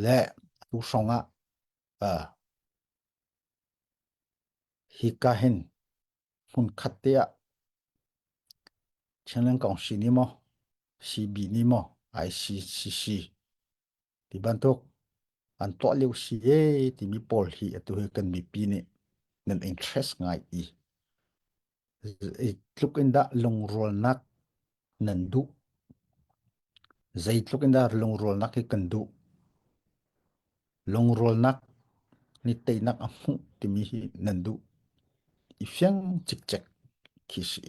le tuhrong ah hika hin hmunkhat te ah Chenleng Kong si ni maw CB ni maw ICCC ti bantuk an tuah lio si e timi pawl hi atu hi kan mipi nih nan interest ngai i Zeitluk in dah lungrualnak nan duh? Zeitluk in dah lungrualnak hi kan duh? Lungrualnak ni teinak a hmuh timi hi nan duh? I fiang cikcek khi si.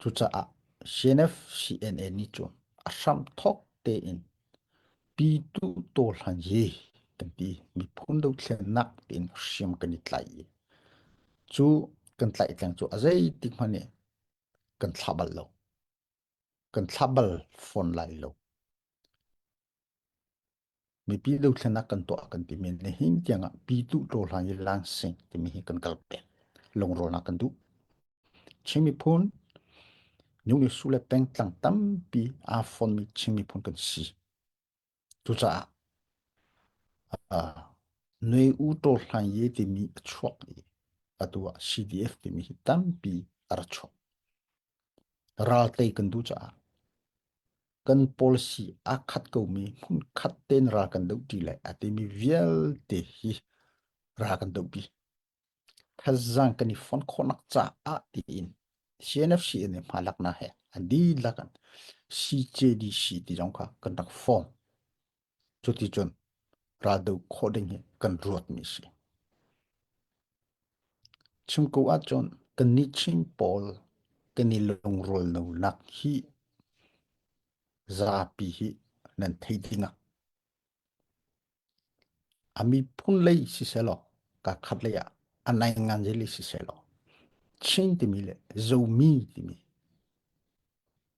Cucaah CNFCNA nih cun a hramthawk tein Pytu Taw Hlan hi kan ti miphun dothlennak tiin hriam kan i tlaih i cu kan tlaih tleng cu a zeitik hmanh nih kan thlah bal lo. Kan thlah bal fawn lai lo. mipi dothlenak kan tuah kan timi nihin tiangah pi tu tlo hlan i lang sing timi hi kan kal peng lungrawnak kan duh Chinmi phun Nungni su le peng tlang tampi aa fonmi Chinmi phun kan si cucaah uh, noi u to hlan ye timi a chuak i atu ah CDF timi hi tampi a ra chuak Ral tei kan duh caah kan policy aa khat komi hmunkhat tein ral kan doh ṭi lai a timi vialte hi ra kan dohpi. Thazaang kan i fon khawhnak caah tiin CNFC nih hma laknak he a dihlak in CJDC ti zong kha kan rak form. Cuticun raldoh khawh ding hi kan ruatmi a si. Chim ko ahcun kannih Chin pawl kan i lungrulnonak hi zapi hi nan thei ding ah a miphun lei sisehlaw kakhat lei ah a nai ngan je lei sisehlaw Chin timi le Zomi timi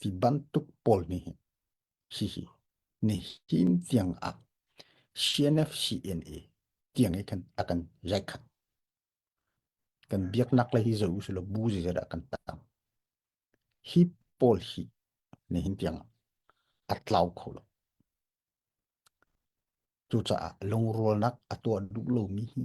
Hi bantuk pawl nih hihi nihin tiang ah CNFCNA tiang i kan a kan rekhanh. Kan biaknak le hi zo usula bu zizara a kan tam. Hi pawl hi nihin tiang a tlau kho lo. Cucaah lungrualnak a tuah duh lomi hi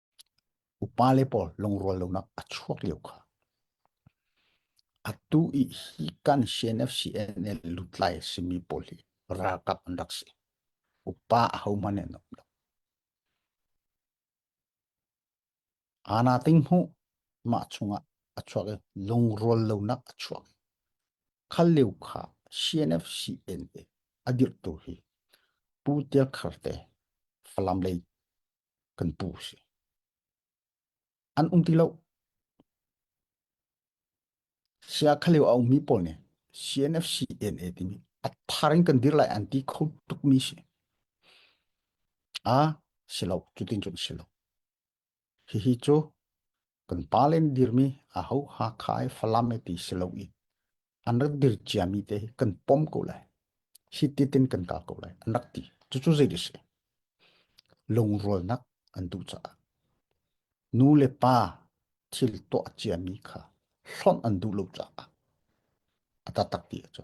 Upale pawl lungrual lonak a chuak lio kha atu i hi kan CNFCNL lutlai a simi pawl hi ralkap an rak si. Upa a hohmanh an um lo. Ana ting hmu mah chungah a chuak i lungrual lonak a chuak. Khal lio kha CNFCNA a dirhtu hi Pu Tia Kharte Falam lei kan pu si. An um ti lo. Sia khalio a ummi pawl nih CNFC NA timi a thar in kan dir lai an ti kho tukmi si. A silo, cutin cun silo. Hihi cu kan pa le an dirmi aho Hakha i Falam i ti si lo i an rak dir ciami te hi kan pom ko lai hi ti tin kan ka ko lai an rak ti cucu zei a si lungrualnak an duh caah nu le pa thil tuah ciami kha hlonh an duh lo caah a tatak ti a cu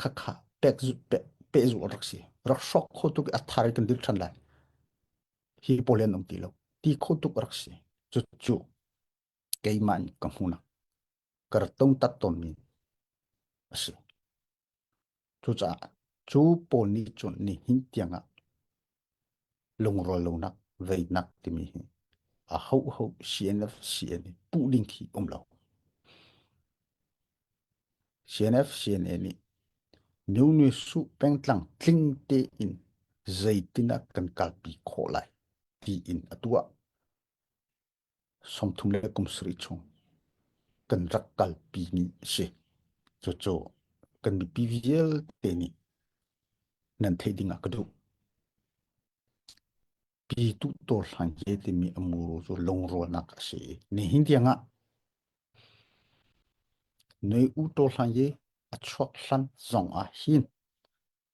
khakha pehzul rak si rak sok kho tuk a thar kan dil than lai hi polen om ti lo ti kho tuk rak si chu chu keimah ka hmuna kar tong tat ton mi asi chu cha chu pol ni chun ni hin tianga Lungrual lonak, veinak timi hi a hoho CNF, CNA puh ding khi um lo. CNF, CNA nih new nu su pengtlang tling te in zeitin a kan kalpi khawh lai ti in a tuah. sawmthum le kum sarih chung kan rak kalpi mi a si. Cucu kan mipi vialte nih nan theih ding ah ka duh. Pi tu dawr hlan he timi amuru cu lungrualnak a si. Ni hin tiang ah noi u to hlan ye a chuak hlan zong ah hin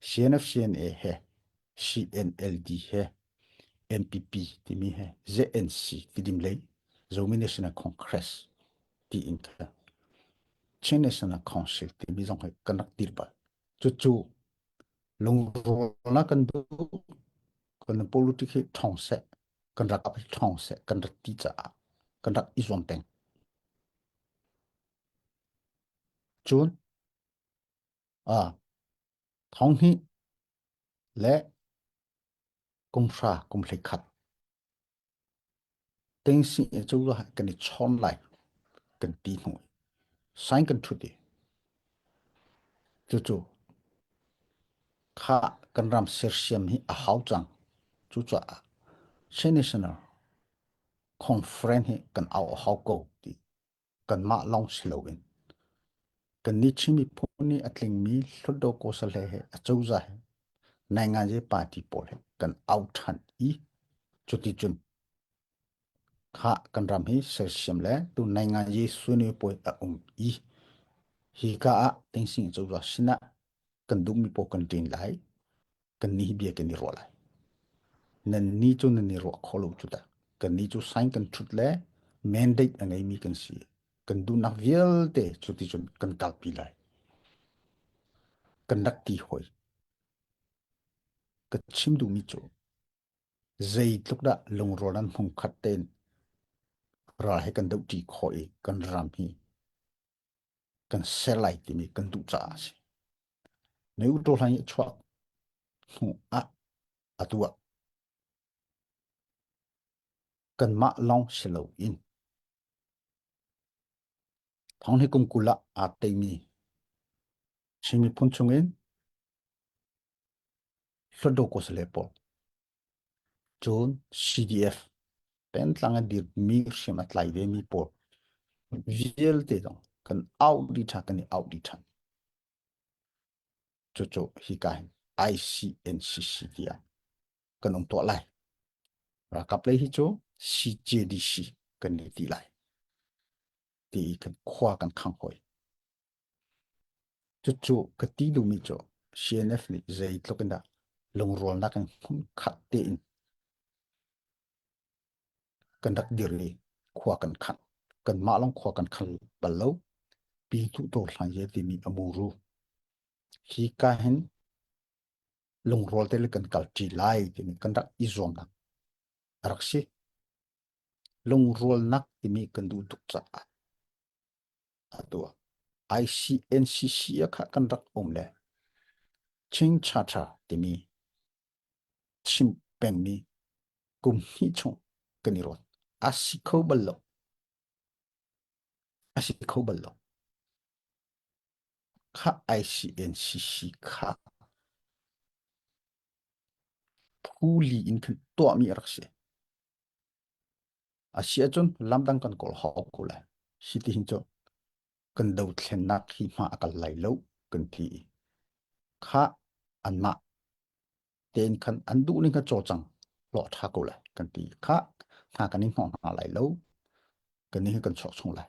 CNFCNA he CNLD he NPP timi he ZNC tidim lei Zomi National Congress tiin ka Chin National Council timi zong he kan rak dir bal cu cu lungrawlnak kan duh kan politic hi thong se kan rak ap thong se kan rak ti caah kan rak i zuam teng cun ah thonghnih le kumhra kumhli khat tengsi e cu lo kan i chon lai kan ti hnu sign kan thut i cu cu kha kan ram sersiam hi a hau cang cu cha senational conference hi kan au hau ko ti kanmah lawng si loin kannih Chin miphun nih a tlingmi Hluttaw Kosale he a cozah he Nainganze party pawl he kan au ṭhan i cuticun kha kan ram hi sersiam le tu Nainganze sune puai a um i hi ka ah Tingsing cozah sinah kan duhmi pawl kan ṭin lai kan ni bia kan i ruah lai nan ni cu nan i ruah kho lo cu da kan ni cu sign kan thut le mandate a ngei mi kan si kan dunak vialte cu ti cun kan kalpi lai kan rak ti hoi ka chim duhmi cu zeitluk dah lungrual nan hmung khat ten ra he kan do ti kho i kan ram hi kan ser lai timi kan duh caah a si. Na auto hlai a chuah hnu ah atu ah kanmah lawng si lo in thong hi kumkul ah aa teimi Chin miphun chungin Hluttaw Kosale pawl Cun CDF pengtlang a dirmi hriam a tlai vemi pawl vialte zong kan auh dih ṭhan, kan i auh dih ṭhan. Cucu hika hin ICNCC tiah kan um tuah lai. Ralkap lei hi cu CJDC kan ni ti lai. Ti i kan khua kan khang hoi. Cucu ka ti duhmi cu CNF nih zeitluk in dah lungrualnak in khat tein kan rak dir i khua kan khang. Kanmah lawng khua kan khang bal lo. Pi Hnuhdawr Hlang Ye timi a muru. Hi ka hin lungrual te le kan kal ṭi lai timi kan rak i zuamnak a rak si. Lungrualnak timi kan duh tuk caah Atu ah ICNCC ah kha kan rak um le Chin Chacha timi chim pengmi kum hnih chung kan i ruat. A si kho bal lo. A si kho bal lo. Kha ICNCC kha phuli in khan tuahmi a rak si. A si ahcun lamdang kan kawl hau ko lai. Hi ti hin cu kan dothlennak hi hma a kal lai lo kan ti i kha anmah tein khan an duh ning kha cawcang hlawh ṭha ko lai kan ti kha hna kan i hnawh hna lai lo kan ni hi kan chuak chung lai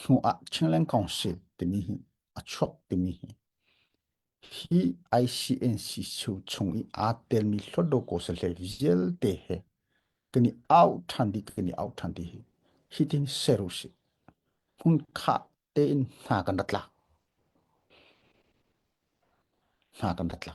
hnu ah Chinland Council timi hi a chuak timi hi hi ICNC chu chung i aa telmi hlawtlo kosale vialte he kan i au ṭhan dih kan i au ṭhan dih hi hi tin ser u si hmun kha tein hna kan rat la hna kan rat la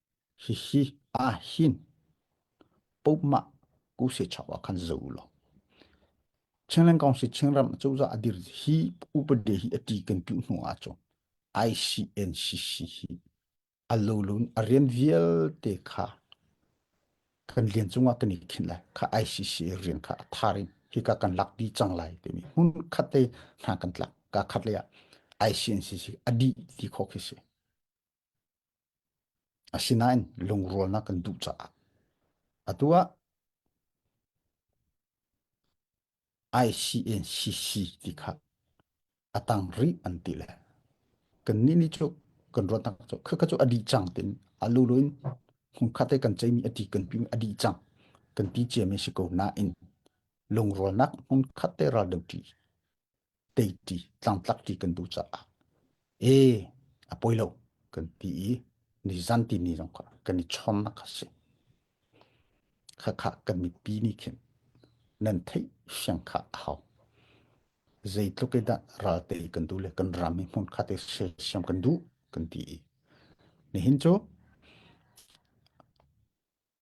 Hihi aa hin. Pomah ku se chau ah khan zo lo. Chinland Council Chinram cozah adir hi upade hi ati kan tu hnu a chu ICNCC hi alolun arian vialte kha kan lian cungah kan i khin lai kha ICC rian kha atharin hi ka kan lak pi cang lai timi hun khatte hna kan tlak ka khatle ah ICNCC adi ti kho khi si Asinain lungrualnak kan duh caah atu ah ICNCC ti kha a tang rih an ti le kannih nih cu kan ruahnak cu khakha cu a dih cang tin a lulu in hung khat i kan ceimi a ti kan pimi a dih cang kan ti ciami a si ko nain lungrualnak hmun khat te ral deuh ṭi teiti tlangtlak ti kan duh caah e a poi lo kan ti i ni zan ti ni zong kha kan i chom na kha si kha kha kan mipi nih khin nan thei siang kha a hau zeitluk e dah ral te kan du le kan ram hi hmun kha te siam kan du kan ti i nihin cu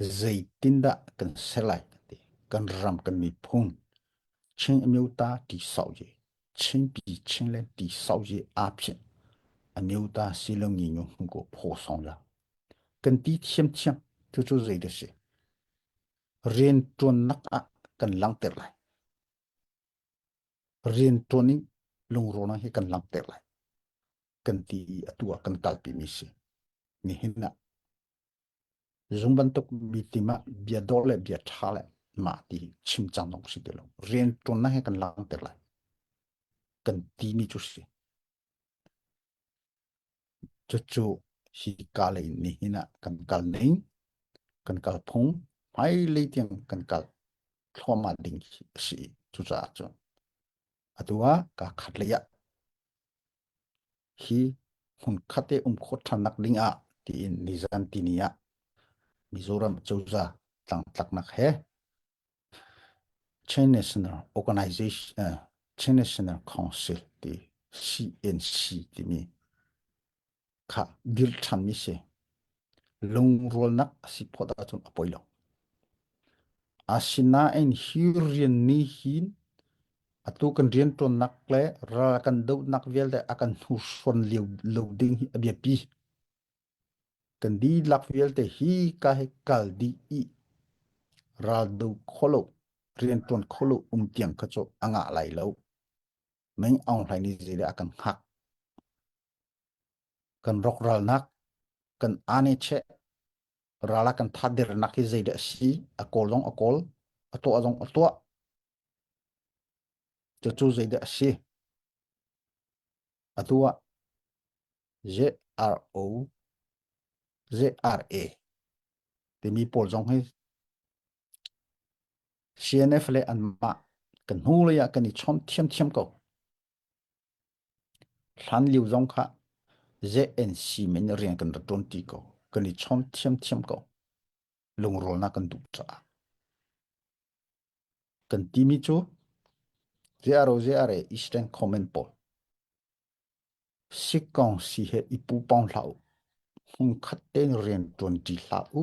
Zeitindah kan ser lai ti kan ram kan miphun Chin amyo ta ti sau je Chinpi Chinland ti sau je aa phin amyo ta si lo ngi ngu hmu ko pho song la kan ti thiam thiam tu cu zei da si rian tuan nak ah kan langter lai rian tuan in lungro na hi kan langter lai kan ti atu ah kan kalpi mi si nihin ah Zung bantuk mi tim ah bia dor le bia tha le mah ti chim cang dong si ti lo. Rian tuan na he kan lang te lai. Kan ti mi cu si. Cucu hi ka le ni hin ah kan kal ning, kan kal phung, mai le tiang kan kal thluama ding si cucaah cu. Atua ka khat le ya. hi hmunkhat i um khawh ṭhan nak ding ah tiin nizan tini ah Mizoram cozah tlangtlaknak he Chin National Organization uh, Chin National Council ti CNC timi kha dil ṭhan mi si lungrualnak a si phawt ahcun a poi lo. Asinain hi rian nih hin atu kan rian ṭuannak le ral kan dohnak vialte a kan hnursuan lio lo ding hi a biapi. Kan dihlak vialte hi ka he kal dih i ral do kholo rian ṭuan kholo um tiang kha cu a ngah lai lo. Meng aung hlai ni zile a kan hak. kan rok ralnak kan ane che rala kan tha dernak hi zei de si a kol zong a kol a to zong a to chu chu zei de si atua z r o z r a timi pawl zong hi CNF le anmah kan hnu lei ah kan i chom thiam thiam ko Hlanlio zong kha zeih in siim in rian kan rak ṭuan ṭi ko. Kan i chawm ṭhiamṭhiam ko. Lungrawlnak kan duh caah. Kan timi cu ziaro ziare i streng comment pawl. Si kong si he i pu pong hlah u. Hung khat tein rian ṭuan ṭi hlah u.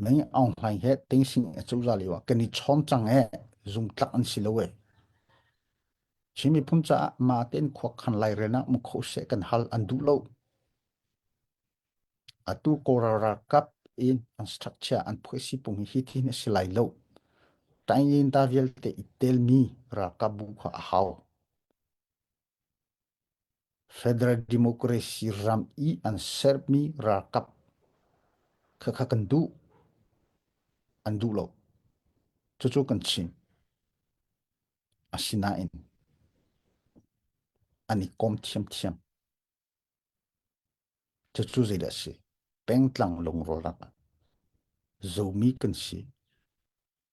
Nai Aung Hlaing he tengsing a cozah lio ah kan i chawm cang e zungtlak an si lo e. Chin miphun caah ma tein khuak khan lai renak mu kho se kan hal an duh lo. Atu koral ralkap in an structure an policy pung hi thi na si lai lo. Tain yin da vialte i tel mi ralkap bu kha a hau. Federal Democracy ram i an sermi ralkap khakha kan duh. An duh lo. Cucu kan chim. Asinain an i kom thiamthiam. Cucu zeidah a si? Pengtlang lungrawlak ah zomi kan si.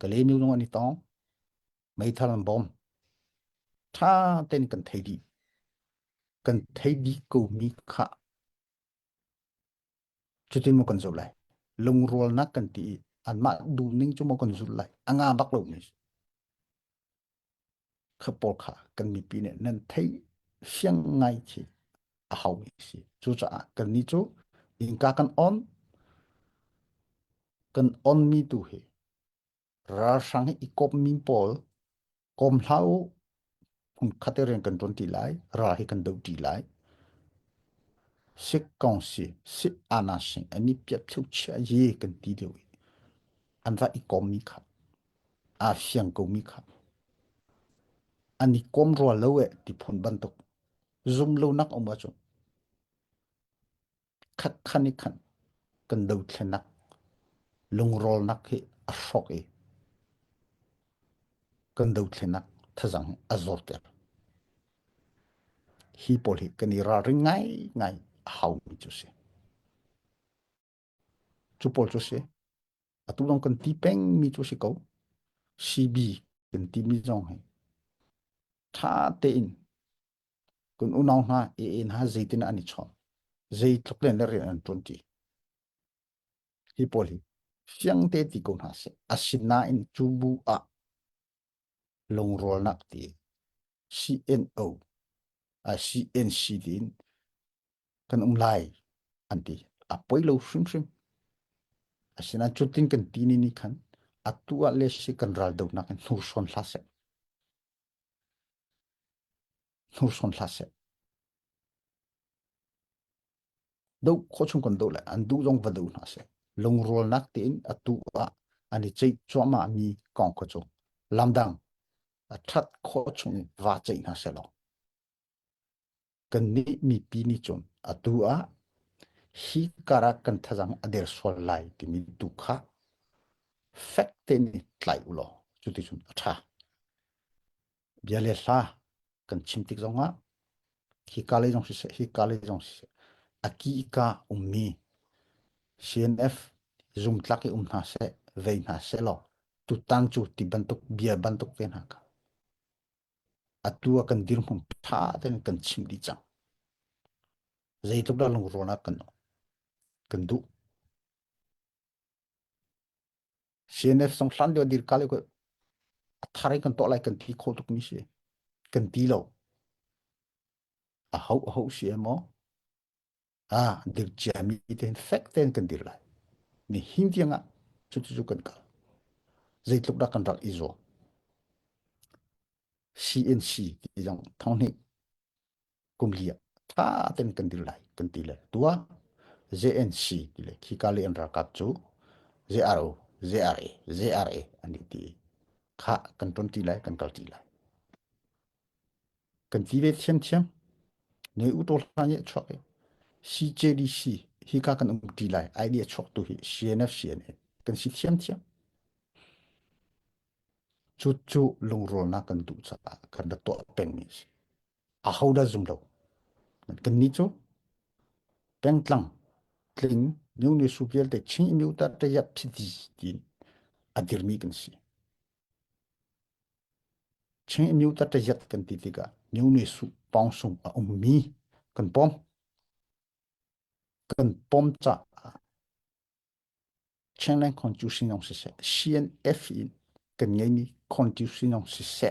kalenu lung an i tong meithal an bom tha ten kan thei dih kan thei dih ko mi kha cutin mo kan zulh lai lungrual nak kan ti anmah duh ning cu mo kan zulh lai anga bak lo ni kha pawl kha kan mipi nih nan thei fiang ngai khi a hau mi si cucaah kan ni cu inka kan on kan on mi tu hi ralhrang hi i kawp mi pawl kawm hlah u hung khate rian kan tuan ti lai ral hi kan do ti lai sik kong si si ana sing ani piat theu chia yi kan ti deu i an va i kawm mi kha aa fiang komi kha. An i kom rua lo e ti phun bantuk. Zum lonak um ahcun. Khat khan i khan kan do thlenak lungrolnak hi a hrok i kan do thlenak thazang a zor ter. Hi pawl hi kan i ralring ngai ngai a hau mi cu si. Cu pawl cu a si. Atu lawng kan ti pengmi cu a si ko. CB kan timi zong hi ṭha tein kan unau hna, ee hna zeitin an i chawm, zeitluk len le rian an ṭuanṭi. Hi pawl hi fiang te ti ko hna seh. Asinain cu bu ah Lungrawlnak ti CNO, CNCD in kan um lai an ti. A poi lo hrimhrim. Asinain cutin kan ti ni ni khan atu ah le si kan ral donak in hnursawn hla seh. Hnursawn hla seh. do kho chung kan do le an du zong va do hna se lungrualnak tein atu ah an i ceih cuahmah mi kong ko chu lamdang that kho chung in va ceih hna se lo kan nih mipi ni cun atu ah hi kara kan thazang ader sual lai timi tu kha fek te ni tlai ulo cuti cun a tha bia le hla kan chim tik zongah hi ka lei zong siseh hi ka lei zong siseh aki ka ummi CNF zumtlak i um hna seh vei hna seh law tutan cu ti bantuk bia bantuk te hna ka atu a kan dirhmung tha ten kan chim dih cang zeitluk dah lungrawn ah kan kan duh CNF song hlan lio dir kal ko thar kan to lai kan thi kho tuk mi si kan ti lo a hau a hau si mo a dir chia mi ten fek ten kan dir lai ni hin tiang a chu chu kan kal zei tluk da kan rak i zo CNC ti jang thong ni kum li tha tem kan dil lai kan ti le tua JNC ti le khi ka le an ralkap cu JRO JRA JRA an i ti kha kan ton ti lai kan kal ti lai kan ti ve thiam thiam ne u to hla ni chok CJDC hi ka kan um ti lai idea chok tu hi CNF CNA kan si thiam thiam chu chu lungrol na kan tu cha kan da to peng ni si ahodah zum lo kannih cu pengtlang tling new ni su vialte chin miu ta te ya phiti ti adirmi kan si chin miu ta te yat kan ti tika new ni su pong sung a ummi kan pom kan pom cha Chinland Constitutionong si se CNF in kan ngei mi constitution si se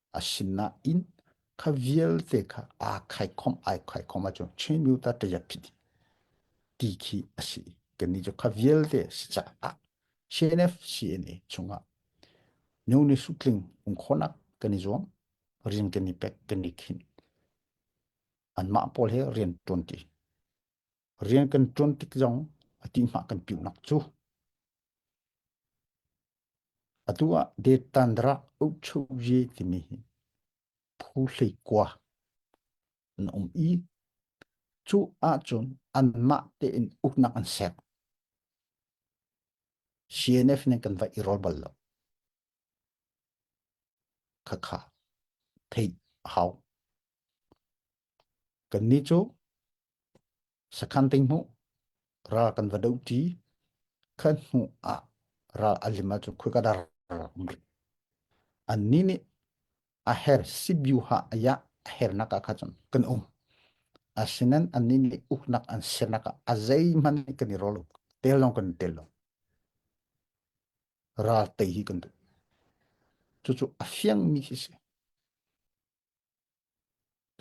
a sin na in kha vialte kha aa khai khom ai khai khom a cu chin myu ta taya phit ti khi a si kan ni chu kha vialte si cha a CNF CNA chunga neu ni su tling ung khonak kan ni zuam rian kan ni pek kan ni khin an ma pol he rian ton ti rian kan ton tik zong a ti ma kan piu nak chu Atu ah Deettandrah Ukchuhye timi hi phu hleikua an um i cu ahcun anmah tein uknak an sek. CNF nih kan va i rol bal lo. Khakha theih hau. Kannih cu sakhan ting hmuh ral kan va do ṭi khat hnu ah ral alim ahcun khoi ka dar rih. Annih nih a her sibyu ha ayah a hernak ah khan cun kan um. Asinain annih nih uknak an sernak ah a zeihmanh nih kan i rol lo. Tel lawng kan tel lo. Ral tei hi kan duh. Cucu a fiangmi hi si.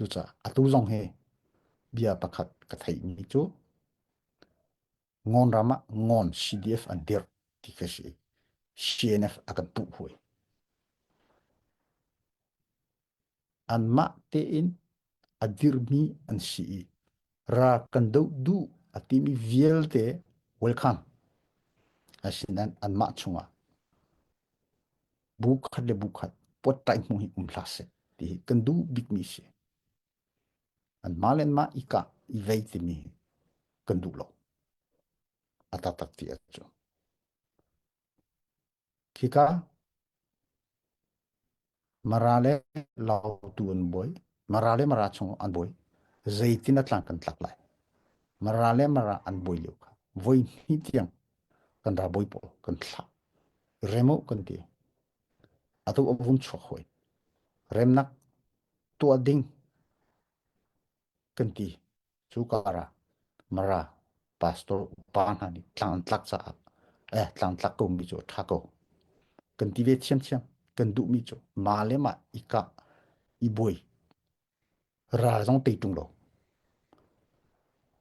Cucaah atu zong hi bia pakhat ka theihmi cu Ngon ram ah Ngon CDF an dirh ti ka si i CNF a kan puh hoi. Anmah tein a dirhmi an si i ra kan doh duh a timi vialte welcome. Asinain anmah chungah bu khat le bu khat pot tai hmu hi um hla se ti hi kan du bik mi si an ma len ma i ka i vei ti mi kan du lo ata tak ti achu khi ka mara le lau tu an boi mara le mara chung an boi zeitin a tlang kan tlak lai mara le mara an boi lio kha voi hni tiang kan ra boi pawl kan thla remo kan ti atu avun chuak hoi remnak tua ding kan ti Cu karah Mara pastor upa hna nih tlang an tlak caah eh tlang tlak ko mi cu a ṭha ko. Kan ti ve thiamthiam. Kan duhmi cu mah le mah i kah i buai. Ral zong tei ṭung lo.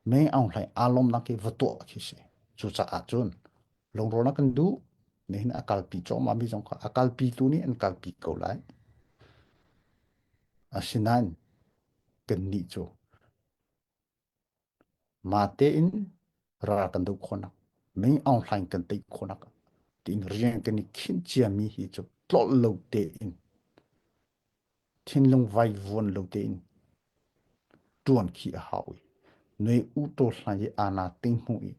Me aung hlai aa lomnak hi va tuah khi si. Cucaah cun lungrawnak kan duh. Nihin a kalpi chawma mi zong kha a kalpi tu nih an kalpi ko lai. Asinain kannih cu mate in ra kan do khawnak ming aung hlaing kan tei khawnak tiin rian kan i khin ciami hi cu tlol lo te in thinlung vai vuan lo te in tuan khi a hau i noi u to hlai i ana ting hnu i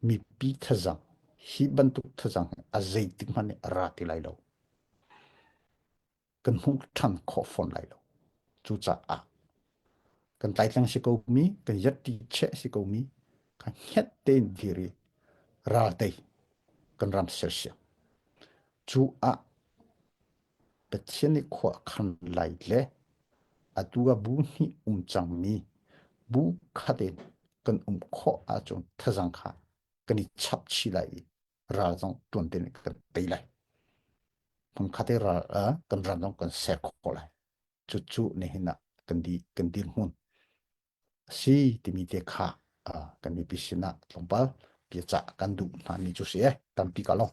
mipi thazang hi bantuk thazang a zeitik hmanh ra ti lai lo kan hmuh ṭhan khawh fawn lai lo. Cucaah kan tlaitlang si komi, kan yatti che si komi, kan hiat tein diri ralte kan ram sersiam. Cu ah Pathian i khua khan lai le atu a bu hnih um cangmi bu khat in kan um khawh ahcun thazang kha kan i chap chih lai i ral zong tuan tin kan tei lai hmang khat ral kan ram zong kan ser khawh lai cu cu ne hin kan di kan di hmun si timi te kha kan mi pisin tlongpal pia ca kan duh hna ni chu si e tampi ka long